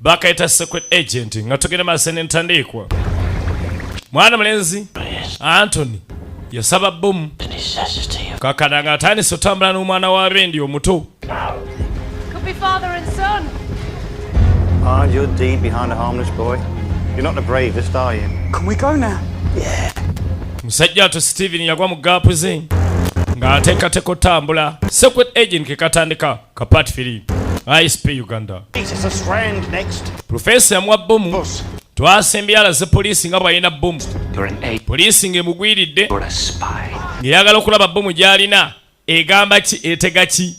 bakayita secret agent nga tugenda maaso nentandiikwa mwana mulenzi antony yasaba bomu kakana nga atandise otambula n'omwana wa rendi omuto musajja ato steven yagwa mu gaapu ze ng'ateekateeka otambula secret agent kekatandika Kapat Philip, ISP Uganda. Professor yamwa bomu. Twasembye alaze poliisi nga bw'alina bomu. Poliisi ng'emugwiridde ng'eyagala okulaba bomu gy'alina egamba ki etega ki.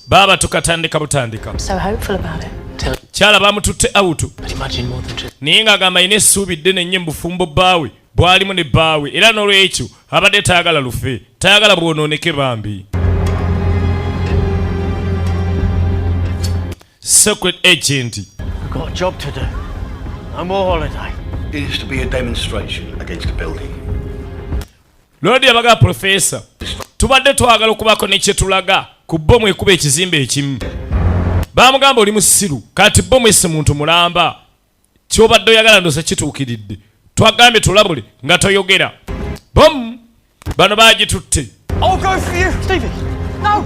Baba tukatandika butandika. So hopeful about it. kyala bamututte awutu naye ng'agamba alina essuubi ddene nnyo mubufumbo bbaawe bwalimu ne bbaawe era n'olwekyo abadde tayagala lufe tayagala bwonooneke bambi secret agent It is to be a demonstration against the building. Lord yabaga professor. Tubadde twagala okubako ne kye tulaga ku bomu ekuba ekizimbe ekimu. Baamugamba oli musiru kati bomu esse muntu mulamba. Kyobadde oyagala ndosa kituukiridde. Twagambye tulabule nga toyogera. Bomu bano baagitutte. I'll go for you, Stevie. No.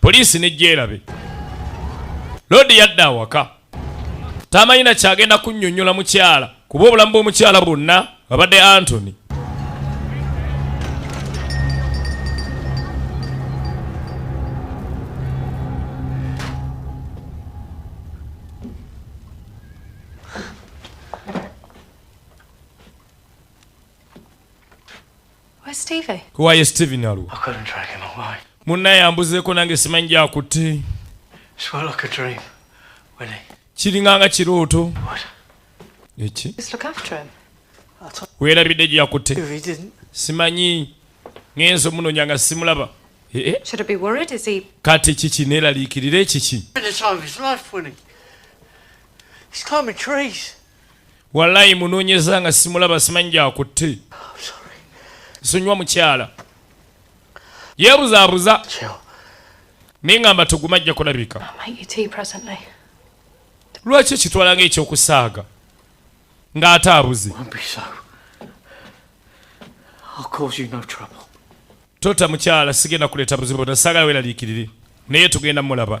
poliisi nejjeerabe loodi yadde awaka tamanyina kyagenda kunyonyola mukyala kuba obulamu bw'omukyala bwonna abadde antony kuwaye steve nalwo munna yambuzeeko nange simanyi gyakutte kiringa nga kirooto eki weerabidde gyakutte simanyi ngenza omunonya nga simulaba eh, eh. kati kiki neeraliikirira ekiki Walayi munonyeza nga simulaba simanyi gyakutte. Nsonyiwa mukyala. Yeebuzaabuza. Naye ngamba tuguma ajja kulabika. Lwaki okitwala nga ekyokusaaga ng'ate abuze? Tota mukyala sigenda kuleeta buzibu bwonna saagala weeraliikirire naye tugenda mulaba.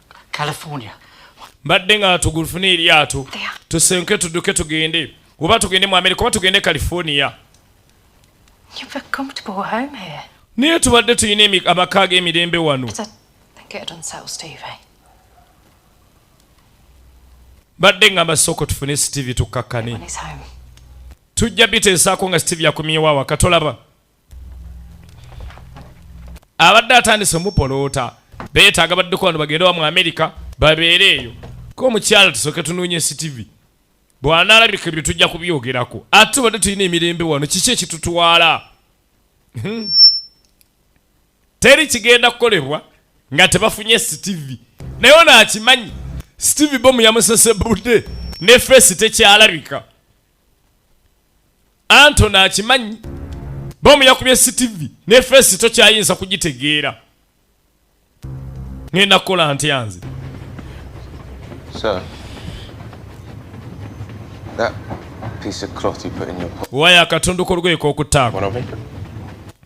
mbadde nga tugulufuna eryato tusenke tuduke tugende oba tugende mu amerika oba tugende california naye tubadde tulina amaka g'emirembe wano badde ngamba sooka tufune steve tukkakkane tujja biteesaako nga steve yakomyewo awaka tolaba abadde atandise omupoloota beetaaga baddeko wano bagende wa mu amerika babeere eyo ko omukyala tusooke tunoonye ctv bw'anaalabika ebyo tujja kubyogerako ate tubadde tulina emirembe wano kiki ekitutwala hmm. teri kigenda kukolebwa nga tebafunye ctv naye ono akimanyi steve bomu yamusesebudde ne feesi tekyalabika antoni akimanyi bomu yakubye sitivi ne feesi tokyayinza kugitegeera ngenda kukola ntya nze waya akatundu kolugoye kokutaako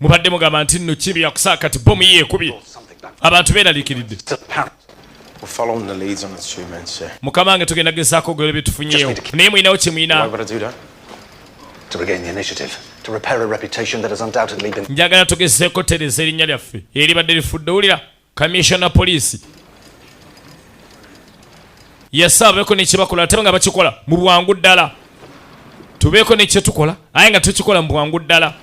mubadde mugamba nti nno kibi yakusaa kati bomu ye ekubye abantu beeraliikiridde mukama wange tugenda gezaako ogolo bye tufunyeewo naye mulinawo kye mulina njagala tugezeeko tereza erinnya lyaffe eribadde lifudde wulira Commissioner police yasaabeko nekyebakola ate nga bakikola mu bwangu ddala tubeeko nekyetukola aye nga tukikola mu bwangu ddala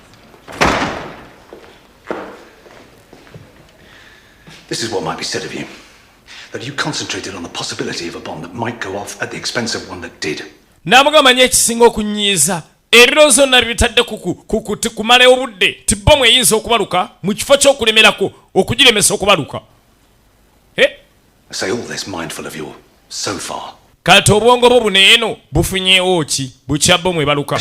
This is what might be said of you. That you concentrated on the possibility of a bomb that might go off at the expense of one that did. Namugamba nyo ekisinga okunyiiza Ebiro zonna bibitadde kumala obudde nti bbomu eyinza okubaluka mu kifo ky'okulemerako okugiremesa okubaluka. Eh? Kati obwongo bwo buno eno bufunyeewo ki bukya bbomu ebaluka?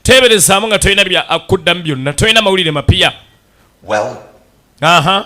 Teeberezaamu nga tolina bya kuddamu byonna, tolina mawulire mapya. Aha.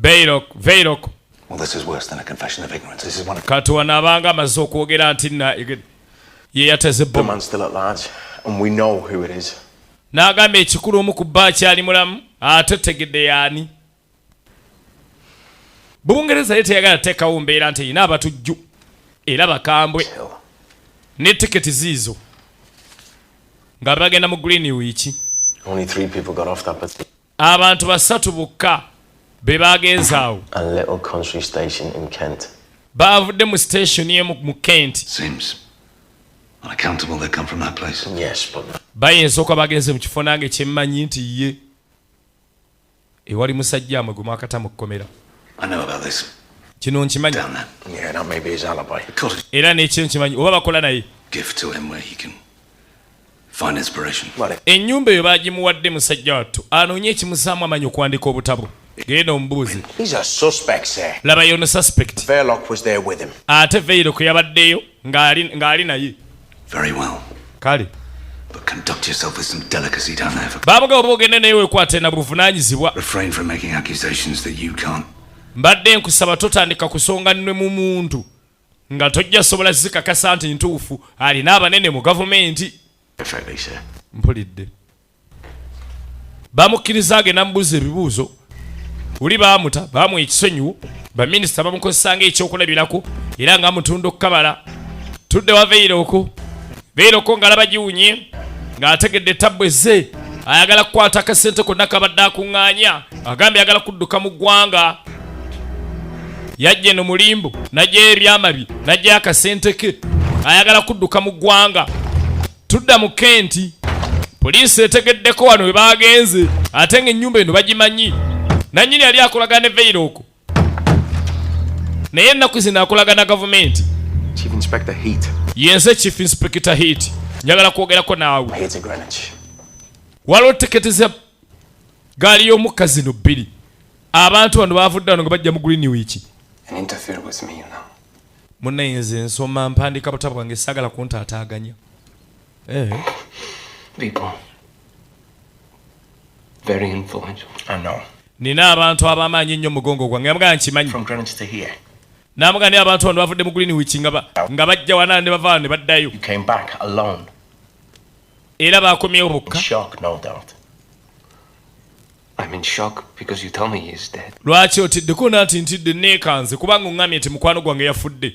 Baylok, Baylok. Well, this is worse than a confession of ignorance. This is one of... Kati wanaabanga amaze okwogera nti na ye yateze bbomu. The man's still at large and we know who it is. N'agamba ekikulu omu ku bba akyali mulamu ate tegedde yaani. Bungereza ye teyagala teekawo mbeera nti erina abatujju era bakambwe ne tiketi ziizo nga bagenda mu Greenwich. Only three people got off that bus. Abantu basatu bokka be baagenze awo. Baavudde mu station emu mu Kent. Seems unaccountable they come from that place. Yes, but bayinza okuba bagenze mu kifo nange kyemmanyi nti ye ewali musajja amwe gwe mwakata mu kkomera kino nkimanyi era nekyo nkimanyi oba bakola naye Ennyumba eyo baagimuwadde musajja wattu anoonye ekimuzaamu amanyi okuwandika obutabo genda omubuuze labayo ono suspect ate veirok yabaddeyo ng'ali naye kale baamugaba oba ogende naye wekwate na buvunanyizibwa mbadde nkusaba totandika kusonga nwe mu muntu nga tojja sobola zikakasa nti ntuufu alina abanene mu gavumenti mpulidde bamukkiriza agenda mubuuza ebibuuzo uli baamuta baamu ekisonyiwo baminisita bamukozesanga ekyokulabirako era nga mutunda okukabala tudde waveire oku Beera ko ngalaba giwunye ng'ategedde tabbu ezze ayagala kukwata akasente konna kabadde akuŋŋaanya agambye ayagala kudduka mu ggwanga yajja eno mulimbu najjayo ebyama bye najjayo akasente ke ayagala kudduka mu ggwanga tudda mu kenti poliisi etegeddeko wano we baagenze ate ng'ennyumba eno bagimanyi nannyini yali akolagana ne veyiro okwo naye ennaku zino akolaga na gavumenti yenze chief inspector heat njagala kwogerako naawe waliwo tiketi za gaali y'omukka zino bbiri abantu bano bavudde wano nga bajja mu green week munaye nze nsoma mpandiika butabo bwange sagala kuntaataaganya eh. Very influential. I know. Nina abantu abamaanyi ennyo mugongo gwange yamugamba nkimanyi. From Greenwich to here. Namuga ne abantu bano bavudde mu Greenwich nga ba nga bajja wana ne bava ne baddayo. You came back alone. Era baakomyewo bokka. Shock no doubt. I'm in shock because you tell me he's dead. Lwaki otidde ko nanti ntidde neekanze kubanga ong'amye nti mukwano gwange yafudde.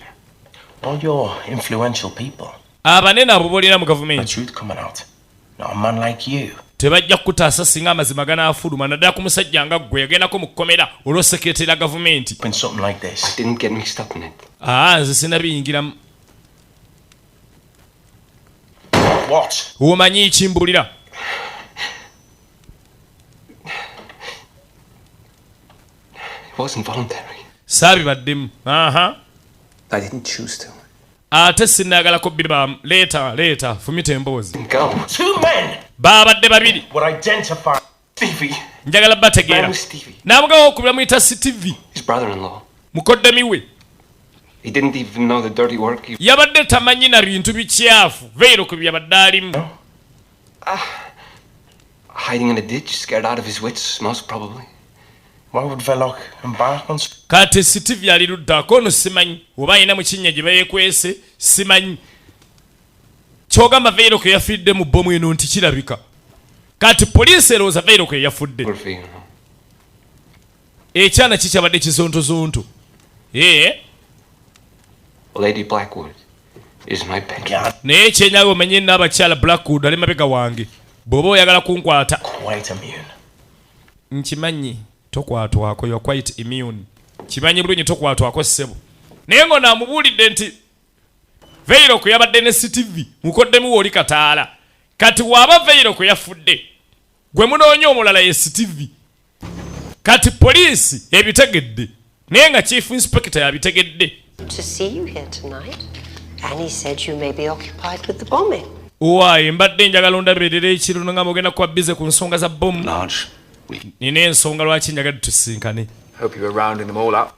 All your influential people. Abanene abo bolina mu gavumenti. The truth coming out. tebajja kukutaasa singa amazima ganaafuluma naddala ku musajja nga ggwe yagendako mu kkomera olw'osekeretera ya gavumenti ah, nze sinabiyingiramu omanyi kimbuulira saabibaddemu ate sinagalako bibam leeta leeta fumita emboozi baabadde babiri njagala bategeera nabugawo okubira muyita steve mukoddemi we yabadde tamanyi na bintu bikyafu veero ku byabadde alimu ah. Hiding in a ditch, scared out of his wits, most probably. Why would Velok embark on... Kati Steve yali luddako ono simanyi oba alina mu kinnya gye bayekwese simanyi kyogamba Velok yafidde mu bbomu eno nti kirabika kati poliisi erowooza Velok yeyafudde ekyana kikyabadde kizontozonto ee lady blackwood is my pet naye kyenyawe omenye n'abakyala blackwood ali mabega wange bw'oba oyagala kunkwata nkimanyi tokwatwako yo quite immune kimanyi bulungi tokwatwako ssebo naye ngo namubuulidde nti veiro kwe yabadde ne ctv mukoddemu wooli kataala kati waaba veiro kwe yafudde gwe munoonya omulala ye ctv kati poliisi ebitegedde naye nga chief inspector yabitegedde owaye mbadde njagala ondaberera ekiro nga mugenda kuba bize ku nsonga za bomu nina ensonga lwaki njagadde tusinkane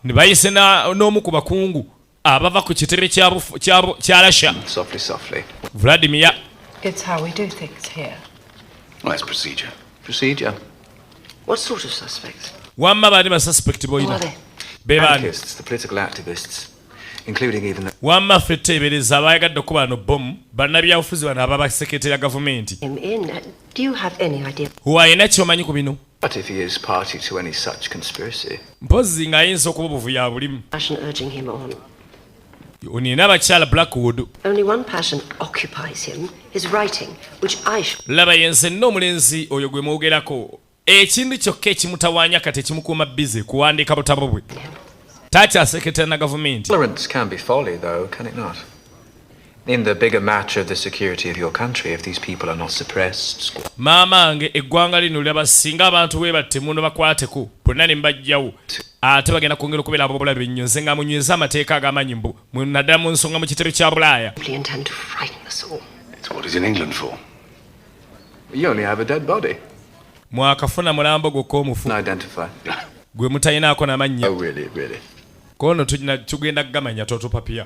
ne bayise n'omu ku bakungu abava ku kitebe kya Russia. Vladimir. It's how we do things here. Nice procedure. Procedure. What sort of suspects? Wamma baani ba suspect boyina? Be baani? The political activists. wamma ffe teebereza abaayagadde okuba ano bomu bannabyabufuzi bano ababasekete ya gavumenti huwa yena kyomanyi ku bino But if he is party to any such conspiracy. Mpozi nga yinza okuba obuvuya bulimu. Passion urging him on. Onina abakyala Blackwood. Only one passion occupies him, his writing, which I should... Laba yenze no omulenzi oyo gwe mwogerako. Ekintu kyokka ekimutawaanya kati ekimukuuma bize kuwandiika butabo bwe. Takyaseketera na gavumenti. Tolerance can be folly though, can it not? In the bigger match of the security of your country, if these people are not suppressed. Mama ange eggwanga lino laba singa abantu we batte muno bakwateko bonna ne mbajjawo ate bagenda kwongera okubeera abobulabe nnyo nze nga munyweza amateeka ag'amaanyi mbu naddala mu nsonga mu kitebe kya bulaaya mwakafuna mulambo gwokka omufu gwe mutalinaako namannya oh, kono tugenda kugamanya totupapiya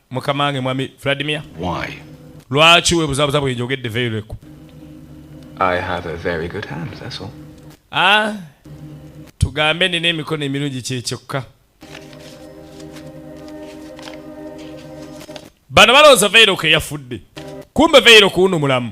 mukama wange mwami vladimir lwaki webuzabuza bwenjogedde veireku ah, tugambe nina emikono emirungi kyekyokka bano balowooza veireku eyafudde kumbe veireku wuno mulamu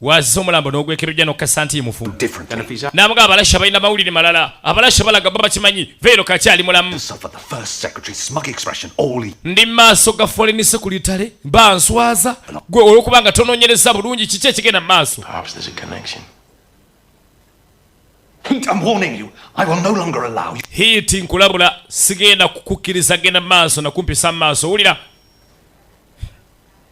wazza omulambo n'ogwekerojja n'okukasa nti mufu n'amuga abalasha balina mawulire malala abalasha balaga baba kimanyi veero kakyali mulamu ndi maaso ga foreign secretary banswaza gwe olwokuba nga tononyereza bulungi kiki ekigenda mu maaso hiiti nkulabula sigenda kukukkiriza genda mu maaso nakumpisa mu maaso wulira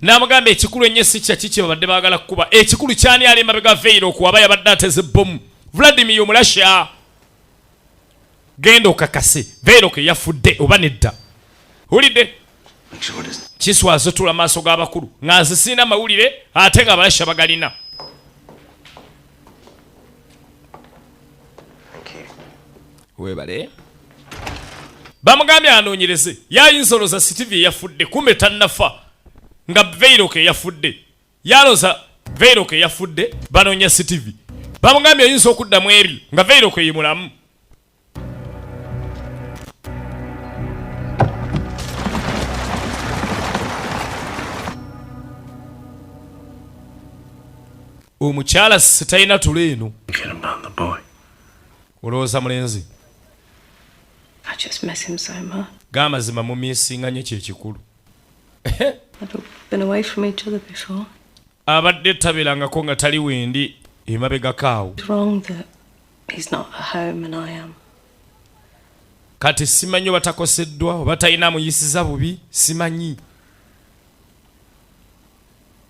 n'amugamba ekikulu ennyo si kyaki kye babadde baagala kukuba ekikulu kyani ali emabega veiro okuwaba yabadde ateze bbomu vladimir omurasha genda okakase veiro ke yafudde oba nedda wulidde kiswazo tula maaso g'abakulu nga nze sirina mawulire ate nga abarasha bagalina webale bamugambye anoonyereze yayinza oloza sitivi eyafudde kumbe tannafa nga veiroka eyafudde yaloza veiroka eyafudde banoonya sitivi bamugambye oyinza okuddamu ebyo nga veiroka eyi mulamu omukyala sitalina tulo eno olowooza mulenzi gamazima mumisinga nyo kyekikulu abadde tabelangako nga tali wendi emabegakaawo kati simanyi oba takoseddwa oba talina amuyisiza bubi simanyi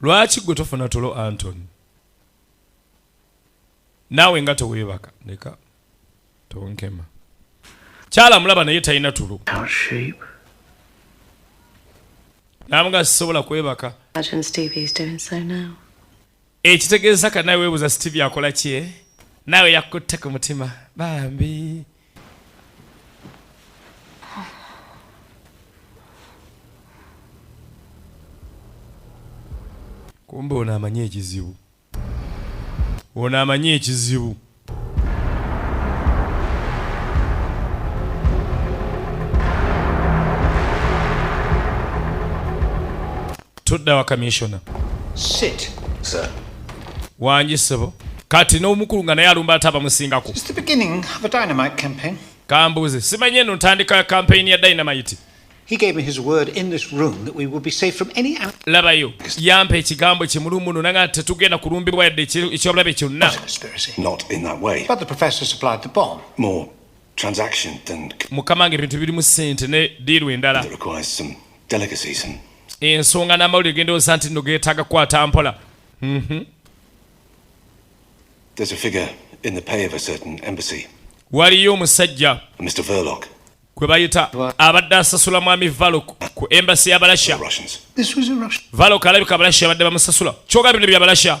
lwaki gwe tofuna tulo antony naawe nga teweebaka leka tonkema kyala mulaba naye talina tulo namuga sisobola kwebaka ekitegeeza ka nawe webuuza steve akola kye naawe yakutte ku mutima bambi kumbe ono amanyi ekizibu ono amanyi ekizibu tudda wa kamissiona wangi sebo kati n'omukulu nga naye alumba ate abamusingako kambuuze simanyi eno ntandika ya kampeyini ya dynamite He gave me his word in this room that we would be safe from any labayo yampa ekigambo kimulu muno nanga tetugenda kulumbibwa yadde ekyobulabe kyonna mukama nga ebintu birimu sente ne diiru endala ensonga n'amawulire gendowooza nti no geetaaga kukwata mpola mhm. waliyo omusajja gwe bayita abadde asasula mwami valok ku embasi ya balasha valok alabika abalasha abadde bamusasula kyoga bino bya balasha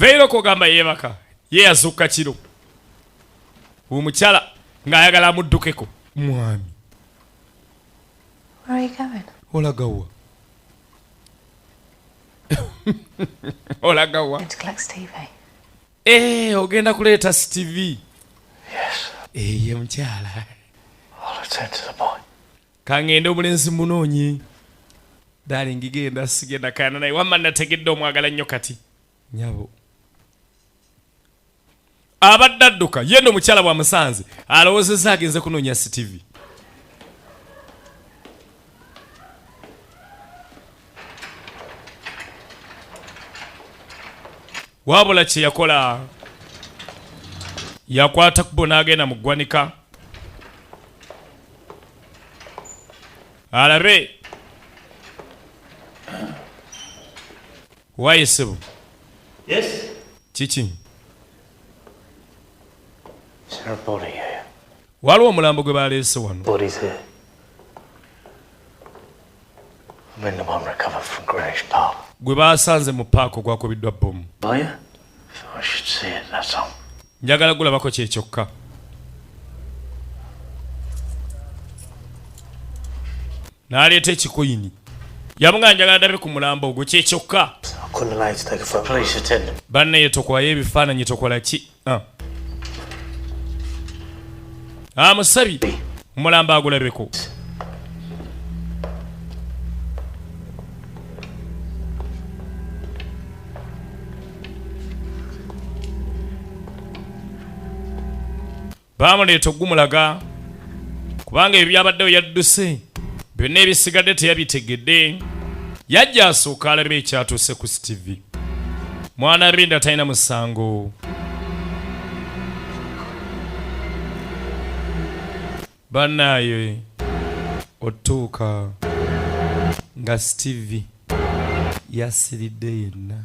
veera okugamba yeebaka ye yazukka kiro omukyala ng'ayagala amuddukeko mwami olagawa olaga wa eh, ogenda kuleeta stv eye eh, mukyala kangende omulenzi munoonyi dalingi genda sigenda kana naye wamma nategedde omwagala nnyo kati nyabo abadde adduka ye no mukyala bwa musanze alowozeza agenze kunoonya ctv wabula kye yakola yakwata kubo n'agenda mu ggwanika alabe Waye sebo. Yes. Kiki? Sir body here. Waliwo omulambo gwe baleese wano. Body's here. When the one recovered from Greenwich Park. Gwe baasanze mu paaka ogwakubiddwa bbomu. Boya? I should see it, that's all. Njagala gulabako kye kyokka. n'aleeta ekikoyini yamugamba njagala ndabe ku mulambo ogwo kyekyokka bannaye tokwayo ebifaananyi tokola ki ah. amusabi ah, omulambo agulabeko baamuleeta okugumulaga kubanga ebyo byabaddewo yadduse byonna ebisigadde teyabitegedde yajja asooka alabe ekyatuuse ku stv mwana rinda talina musango banaye otuuka nga steve yasiridde yenna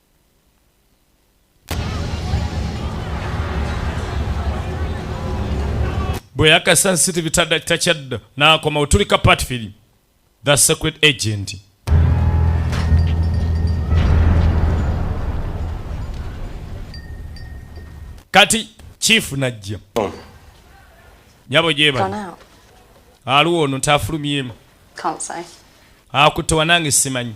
bwe yakasa city bitada takyadda n'akoma otulika patfili the secret agent kati chief najja oh. nyabo gyebali aliwo ono tafulumyemu akutte wanange simanyi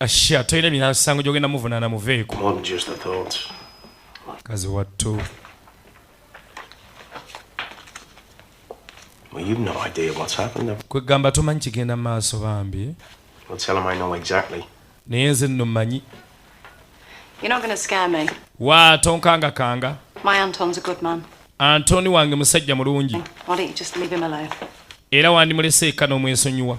Ashia toyina misango gyogenda muvunana muveeko. Kazi wattu. Well, you've no idea what's happened there. Kwegamba tomanyi kigenda maaso bambi. Well, tell him I know exactly. Naye nze nno manyi. You're not gonna scare me. Wa tonkanga kanga. My Anton's a good man. Antoni wange musajja mulungi. Why don't you just leave him alone? Era wandimulese eka n'omwesonyiwa.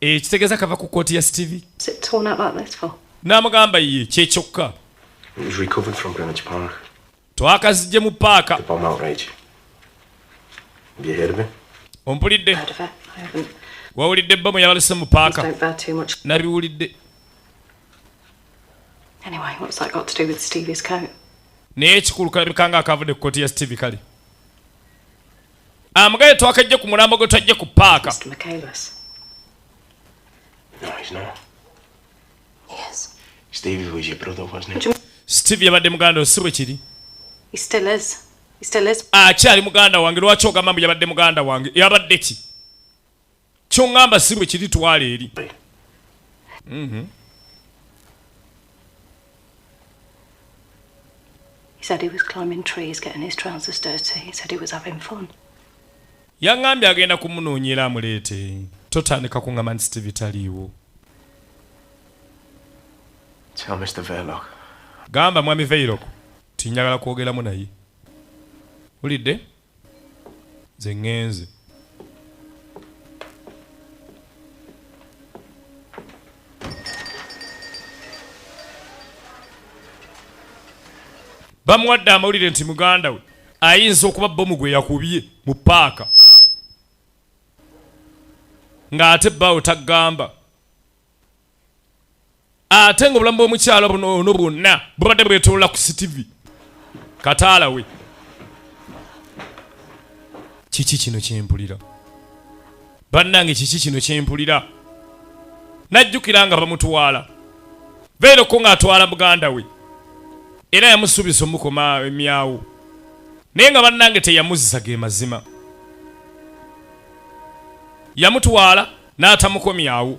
ekitegeeza eh, kava ku kkooti ya steve n'amugamba ye kyekyokka twakazijje mu paaka ompulidde wawulidde bba mu yabalese mu paaka nabiwulidde naye ekikulu kalabika nga akavudde ku kkooti ya steve kale Amugale twakajje ku mulambo gwe twajje ku paaka. Steve yabadde muganda si bwe kiri. Akyali muganda wange lwaki ogamba mbu yabadde muganda wange yabadde ki? kyongamba si bwe kiri twala eri mhm. yaŋambye agenda kumunoonyera amuleete totandika kuŋama nti steve taliiwo gamba mwami veirok tinyagala kwogeramu naye wulidde nze ŋŋenze bamuwadde amawulire nti muganda we ayinza okuba bomu gwe yakubye mu paaka ng'ate bawo tagamba ate nga obulamu bw'omukyala buno ono bwonna bubadde bwetolola ku sitivi kataala we kiki kino kyempulira bannange kiki kino kyempulira najjukira nga bamutwala beereko ng'atwala muganda we era yamusuubiza omukoma emyawo naye nga bannange teyamuzza ge mazima yamutwala n'atamukomyawo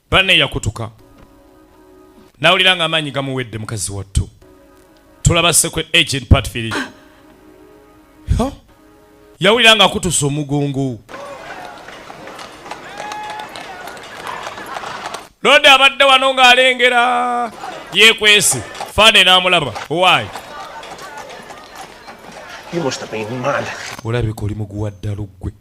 banne yakutuka nawulira nga amaanyi gamuwedde mukazi wattu tulaba secret agent patfiri yawulira nga akutusa omugongo lodi abadde wano ng'alengera yekwesi fane n'amulaba owaayi olabika oli muguwa ddala ggwe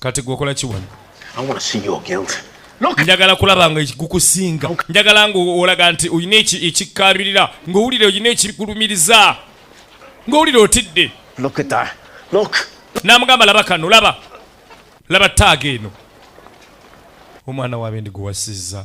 kati gweokola kiwano njagala kulaba nga ekigukusinga njagala nga olaga nti olina ekikkaabirira ng'owulira olina ekikulumiriza ng'owulira otidde n'amugamba laba kano laba laba taaga eno omwana wabe ndi gwewasizza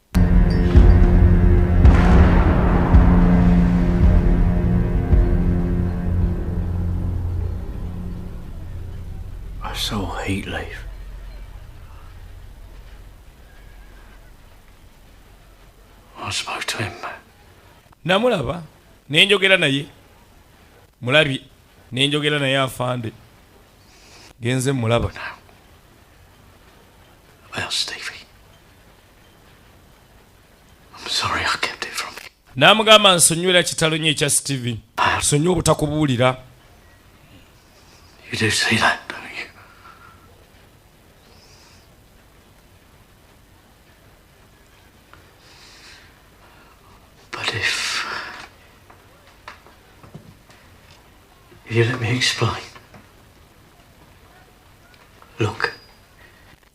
I so hate life. I spoke to him. Namulaba nenjogera naye mulabi nenjogera naye afande genze mulaba nawe Well, Stevie, n'amugamba nsonywera kitalo nyo ekya steve sonyi obutakubuulira You let me explain. Look.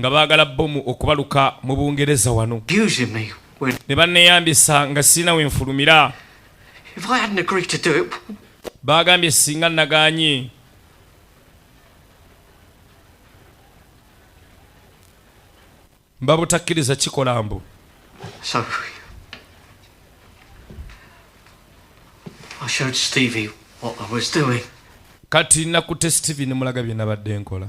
nga baagala bbomu okubaluka mu bungereza wano ne banneeyambisa nga sirina we nfulumira baagambye singa nagaanye mba butakkiriza kikola mbu kati nakutte steven mulaga bye nabadde nkola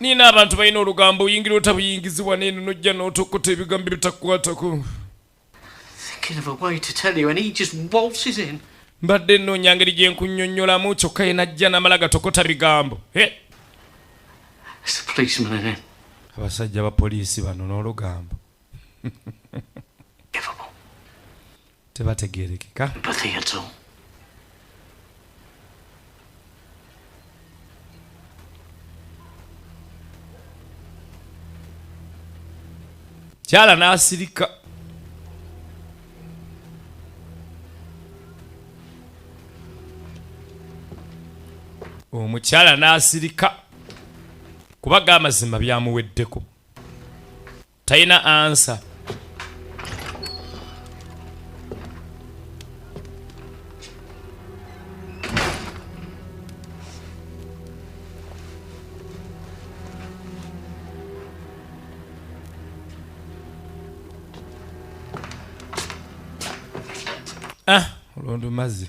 nina abantu balina olugambo oyingira otabuyingizibwa neeno nojja n'otokuta ebigambo ebitakukwatako mbadde nnoonya ngeri gye nkunnyonnyolamu kyokka ye najja namala gatokota bigambo abasajja ba poliisi bano n'olugambo tebategerekeka kyala n'asirika omukyala n'asirika kubagga amazima byamuweddeko Taina answer. Ah, ulondo mazi.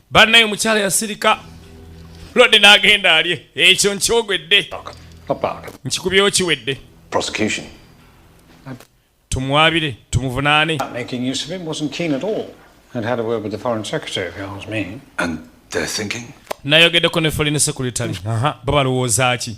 Bannaye omukyala yasirika lwadde n'agenda alye ekyo nkyogwedde nkikubyewo kiwedde tumwabire tumuvunaane nayogeddeko ne foreign secretary bo balowooza ki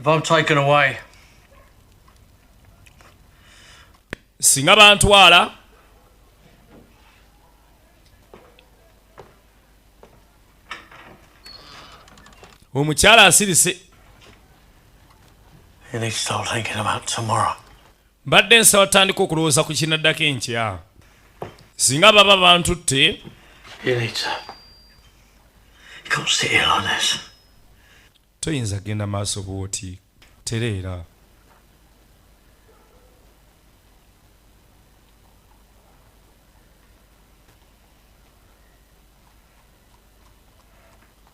If I'm taken away, singa bantwala omukyala asirise mbadde nsaba tutandika okulowooza ku kinaddako enkya singa baba bantutte toyinza kugenda maaso bwoti tereera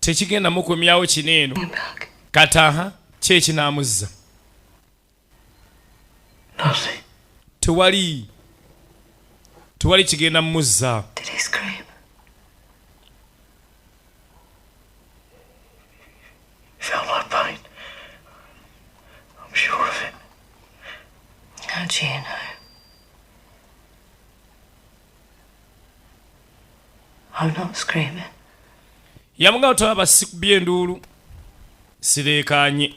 tekigenda mukomyawo kino eno kataha kyekinamuzza tewali tewali kigenda muzza yamugamba tolaba sikubye enduulu sireekaanye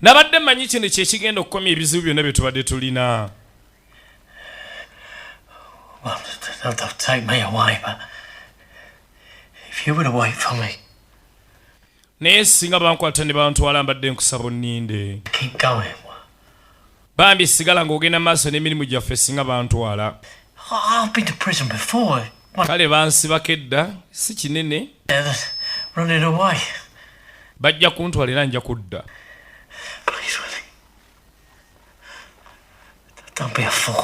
nabadde manyi kino kyekigenda okukomya ebizibu byonna bye tubadde tulina Well, they'll, they'll take me away, but if you were away from me, naye singa bankwata ne bantwala mbadde nkusaba onninde bambi sigala ng'ogenda maaso n'emirimu gyaffe singa bantwala kale bansibako edda si kinene bajja kuntwala era nja kudda Don't be a fool.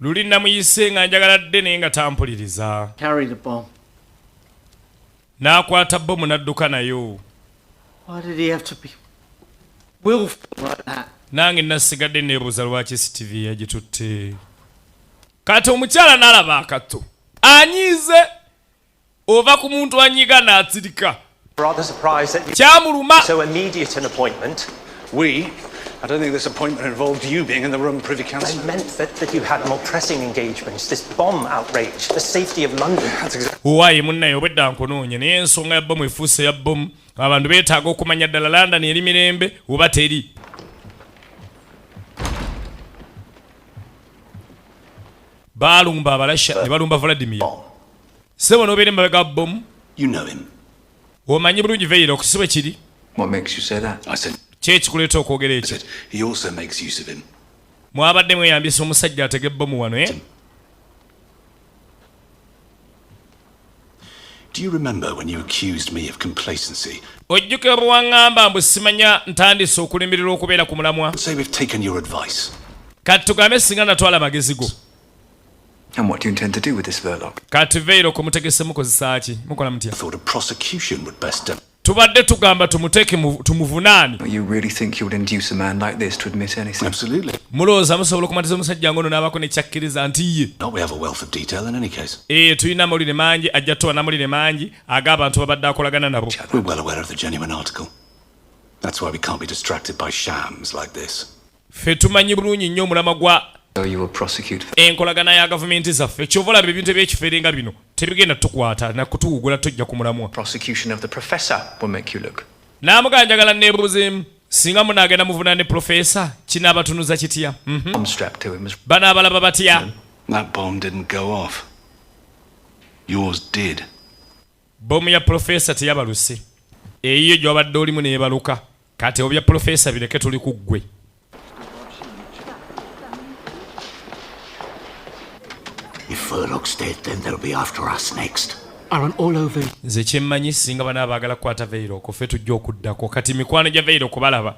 Luli namuyise nga njagala dde naye nga tampuliriza. Carry the bomb. N'akwata bbomu n'adduka nayo. Why did he have to be willful like that? Nange nasigadde neebuuza lwaki CTV yagitutte. Kati omukyala n'alaba akatto anyiize ova ku muntu anyiga n'atsirika kyamuluma I don't think this appointment involved you being in the room, Privy Councillor. I meant that, that you had more pressing engagements, this bomb outrage, the safety of London. That's exactly. Why, munna yobedda nkunoonya naye ensonga ya bbomu efuuse ya bbomu abantu beetaaga okumanya ddala London eri mirembe oba teri. Baalumba abalasha ne balumba Vladimir. Sebo no bere mabega bomu. You know him. Omanyi bulungi Veira okusibe kiri. What makes you say that? I said. Kye kikuleeta okwogera ekyo. He also makes use of him. Mwabadde mweyambisa omusajja atege bomu wano eh? Do you remember when you accused me of complacency? Ojjukira bwe wang'amba mbu simanya ntandise okulemererwa okubeera ku mulamwa? Say we've taken your advice. Kati tugambe singa natwala amagezi go. And what do you intend to do with this verloc? Kati veilo ko mutegese mukozesa ki? Mukola mutya? Thought a prosecution would best done. Tubadde tugamba tumuteke tumuvunaani. You really think you would induce a man like this to admit anything? Absolutely. Mulooza musobola okumatiza omusajja ngono n'abako ne kyakkiriza nti ye. No, we have a wealth of detail in any case. Eh, tulina amawulire mangi ajja tuwa n'amawulire mangi ag'abantu babadde akolagana nabo. We're well aware of the genuine article. That's why we can't be distracted by shams like this. ffe tumanyi bulungi nnyo omulamwa gwa enkolagana ya gavumenti zaffe kyova olaba ebintu ebyekifere nga bino tebigenda tukwata nakutuwugula tojja ku mulamwa namugaa njagala nebuuzeemu singa munagenda muvuna ne profesa kinabatunuza kitya mhm. banaabalaba batya Bbomu ya Pulofeesa teyabaluse. Eyiyo gy'obadde olimu n'ebaluka. Kati obya Pulofeesa bireke tuli ku ggwe. Nze kyemmanyi singa bana abaagala kukwata Veiro okufe tujja okuddako. Kati mikwano gya Veiro kubalaba.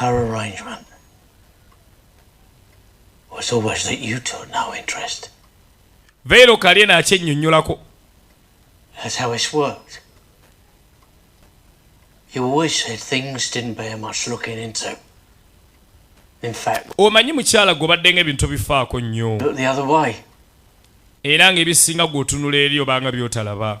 Our arrangement was always that you took no interest. Vero kalye na akyennyonnyolako. That's how it's worked. You always said things didn't bear much looking into. In fact, omanyi mukyala gwe obaddenga ebintu bifaako nnyo era ng'ebisinga gw'otunula eri obanga by'otalaba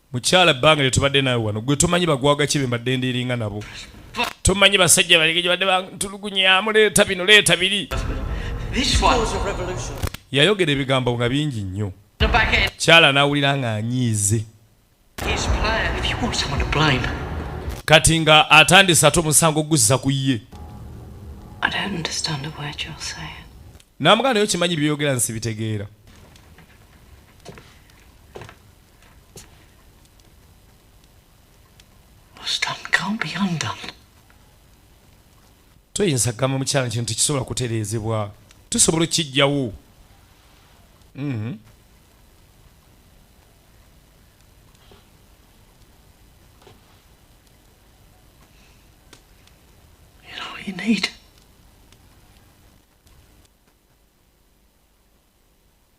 mukyala ebbanga lyetubadde nawe wano gwe tomanyi bagwaga kibe mbadde ndiringa nabo tomanyi basajja balege gyebadde bantulugunya muleeta bino leeta biri yayogera ebigambo nga bingi nnyo kyala nawulira nga anyiize kati nga atandise ate omusango okuguzisa ku ye namugana naye okimanyi byoyogera nsibitegeera toyinza kugamba mukyala kino tekisobola kutereezebwa tusobola okukijjawo mhm. you need.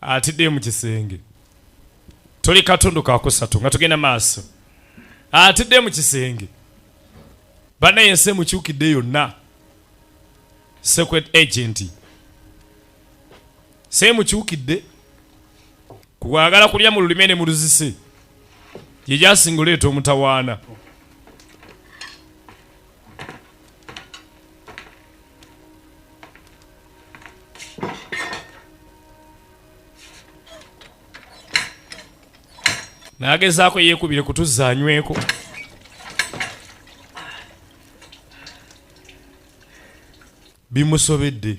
atidde mu kisenge tuli katundu kakusatu nga tugenda maaso atidde mu kisenge banaye ensi emukyukidde yonna secret agent semukyukidde kukwagala kulya mu lulime ne mu luzise gye gyasinga oleeta omutawaana nagezaako yeekubire kutuzza anyweko bimusobedde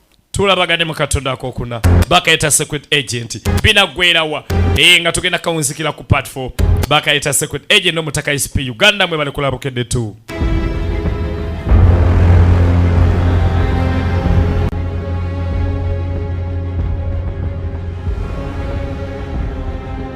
tulabagane mu katonda akokuna bakayita secret agent binagwerawa ee nga tugenda kawunzikira ku part 4 bakayita secret agent nomutaka isp uganda mwe bali kulabukedde tu